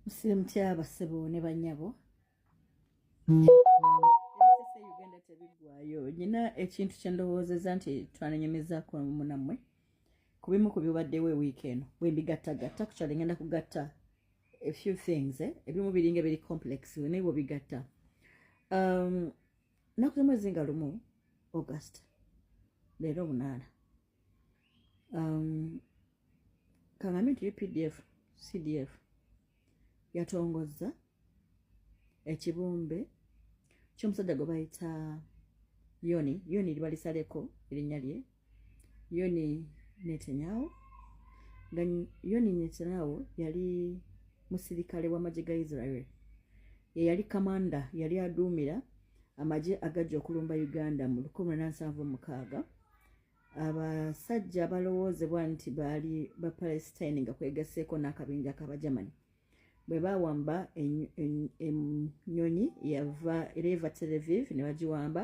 musire mutya abasebo ne banyabo uganda tebiggwayo nyina ekintu kyendowoozeza nti twananyumizaako munammwe ku bimu ku bibaddewo ewiiki eno bwembigattagatta kukyalo ngenda kugatta a few things eh? ebimu biringa biri complex naye bwobigatta um, nakuze mwezi nga lumu august leero omunaana um, kangambe nti updf cdf yatongozza ekibumbe kyomusajja gwe bayita yoni yoni libalisaleko erinnya lye yoni netanyawo nga yoni netanyawo yali musirikale w'amagye ga israel ye yali kamanda yali aduumira amagye agajja okulumba uganda mu 1776 abasajja abalowoozebwa nti baali bapalestine nga kwegaseeko n'akabinja k'abagermany bwe bawamba ennyonyi yava era eva televiv ne bagiwamba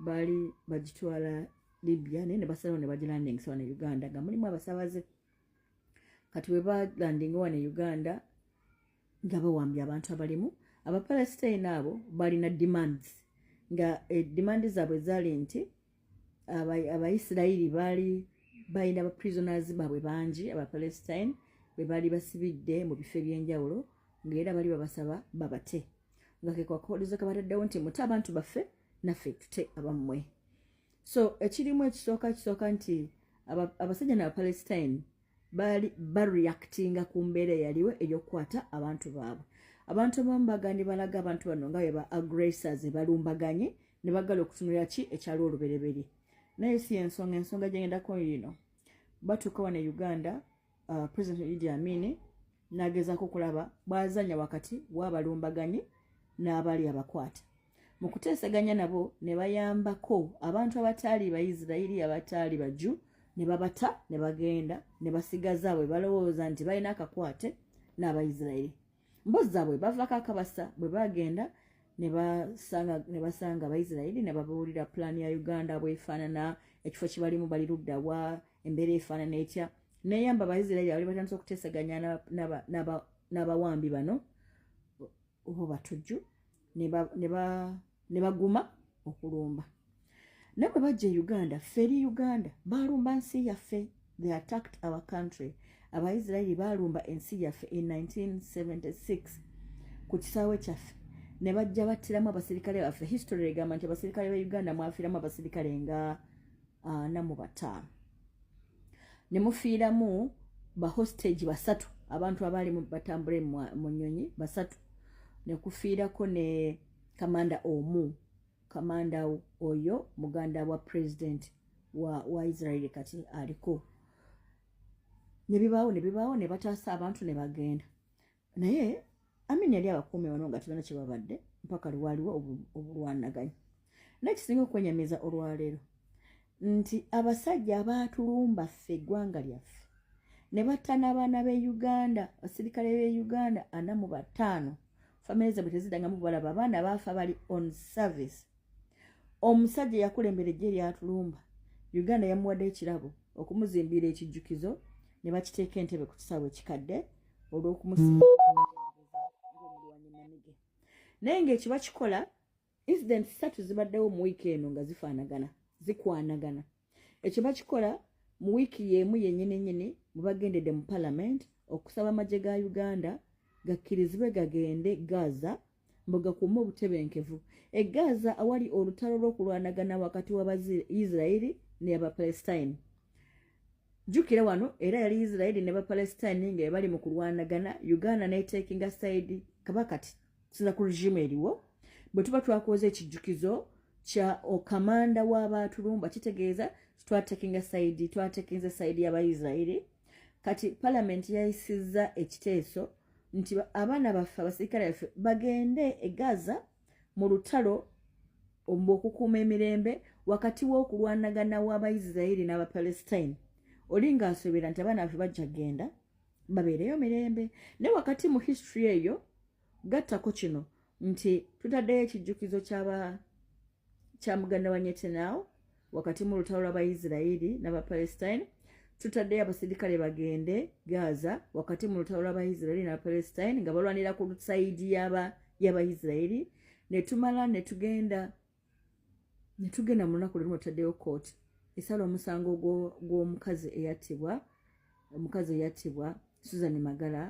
baali bagitwala libya naye ne basalawo ne bagilandingisa wane uganda nga mulimu abasabaze kati bwe balandinga wane uganda nga bawambye abantu abalimu abapalestine abo balina demands nga eh, demands zaabwe zaali nti abaisirairi baali balina ba prisoners baabwe bangi abapalestine bwe baali basibidde mu bifo eby'enjawulo ngaera bali babasaba babate nga kekwakolezo kabataddewo nti mute abantu baffe naffe tute abammwe so ekirimu ekisooka kisooka nti abasajja nabapalestine baali bareactinga ku mbeera eyaliwo eyokukwata abantu baabwe abantu abamu bagandi balaga abantu bano nga bwe ba aggressors balumbaganye ne bagala okutunulira ki ekyali olubereberye naye si ensonga ensonga gyengendako yino batuuka wana e uganda uh, president idi amini nagezako okulaba bwazanya wakati wabalumbaganyi n'abali abakwata mu kuteeseganya nabo ne bayambako abantu abataali baisirairi abataali baju ne babata ne bagenda ne basigaza bwe balowooza nti balina akakwate n'abaisirairi mbozi zaabwe bavako akabasa bwe bagenda ne basanga abaisirairi ne babuulira pulaani ya uganda bwefaanana ekifo kibalimu bali ludda wa embeera efaanana etya neyamba abaisirairi abali batandisa okuteeseganya n'abawambi bano oba batujju ne baguma okulumba naye bwe bajja e uganda ffe eri uganda baalumba nsi yaffe they attacked our country abaisirairi baalumba ensi yaffe in 1976 ku kisaawe kyaffe ne bajja battiramu abasirikale baffe history egamba nti abasirikale ba uganda mwafiramu abasirikale nga ana ah, mu bataano ne mufiiramu bahostage basatu abantu abaali batambule mu nyonyi basatu nekufiirako ne kamanda omu kamanda oyo muganda wa president wa, wa israeli kati aliko nebibaawo nebibaawo nebataasa abantu nebagenda naye amini yali abakuumi bano nga tebana kyebabadde mpaka lwaliwo obulwanaganya naye kisinga okwenyamiza olwaleero nti abasajja abaatulumba ffe eggwanga lyaffe ne batta n'abaana b'e uganda abasirikale b'e uganda ana mu bataano famire zabwe tezidangamu balaba abaana baafa bali on service omusajja yakulembera ejje eryatulumba uganda yamuwadde ekirabo okumuzimbira ekijjukizo ne bakiteeka entebe ku kisaawe ekikadde olwokumusiaomulwanyinamige naye ngaekiba kikola incident satu zibaddewo mu wiiki eno nga zifaanagana zikwanagana ekiba kikola mu wiiki yeemu yenyini nyini mubagendedde mu palamenti okusaba amagye ga uganda gakkirizibwe gagende gaza mbu gakuume obutebenkevu e gaza awali olutalo lw'okulwanagana wakati wabaisirairi neabapalestine jjukira wano era yali isirairi ne bapalestine nga ebali mu kulwanagana uganda netekinga saidi kaba kati kusinza ku regimu eriwo bwe tuba twakoza ekijjukizo kya okamanda w'abaatulumba kitegeeza twatekinga saidi twatekinze saidi y'abaisirairi kati palamenti yayisizza ekiteeso nti abaana baffe abasirikale baffe bagende e gaza mu lutalo ombu okukuuma emirembe wakati w'okulwanagana w'abaisiraeri n'abapalestine oli ng'asobera nti abaana baffe bajja genda babeereyo mirembe naye wakati mu history eyo gattako kino nti tutaddeyo ekijjukizo kyaba kya muganda wa nyetenawo wakati mu lutalo lw'abaisirairi n'abapalestine tutaddeyo abaserikale bagende gaza wakati mu lutalo lw'abaisirairi n'abapalestine nga balwanira ku saidi y'abaisirairi ne tumala ne tugenda ne tugenda mu lunaku lwerumu tutaddeyo kooti esala omusango gw'omukazi eyattibwa omukazi eyattibwa susan magala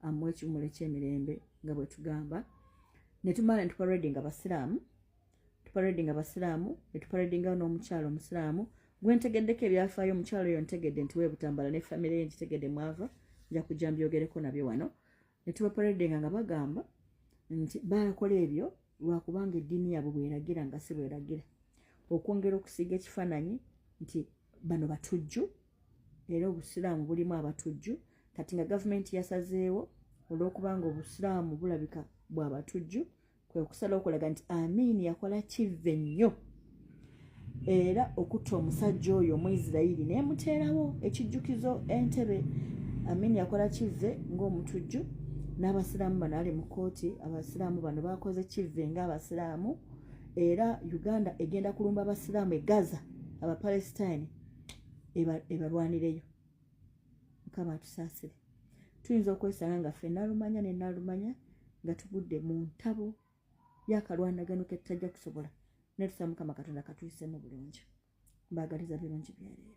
amuwa ekiwumulo ekyemirembe nga bwetugamba netumala netuparedi nga basiraamu tuparedi nga basiraamu netuparedi nga n'omukyalo omusiraamu gwentegeddeko ebyafaayo omukyalo oyo ntegedde nti webutambala ne famire ye nkitegedde mwava nja kujja mbyogereko nabyo wano ne tubaparedinga nga bagamba nti bakola ebyo lwakubanga eddiini yaabwe bweragira nga si bweragira okwongera okusiiga ekifaananyi nti bano batujju era obusiraamu bulimu abatujju kati nga gavumenti yasazeewo olw'okubanga obusiraamu bulabika bwa batujju kwe kusala okulaga nti amin yakola kivve nnyo era okutta omusajja oyo omuisirairi nemuteerawo ekijjukizo entebe amin yakola kivve ngaomutujju n'abasiraamu bano ali mu kooti abasiraamu bano bakoze kivve ngaabasiraamu era uganda egenda kulumba abasiraamu egaza abapalestine ebalwanireyo mukama atusaasire tuyinza okwesanga nga ffe nalumanya ne nalumanya nga tugudde mu ntabo yakalwanagano ketutajja kusobola naye tusaba mukama katonda katuyisemu bulungi mbaagaliza birungi byereere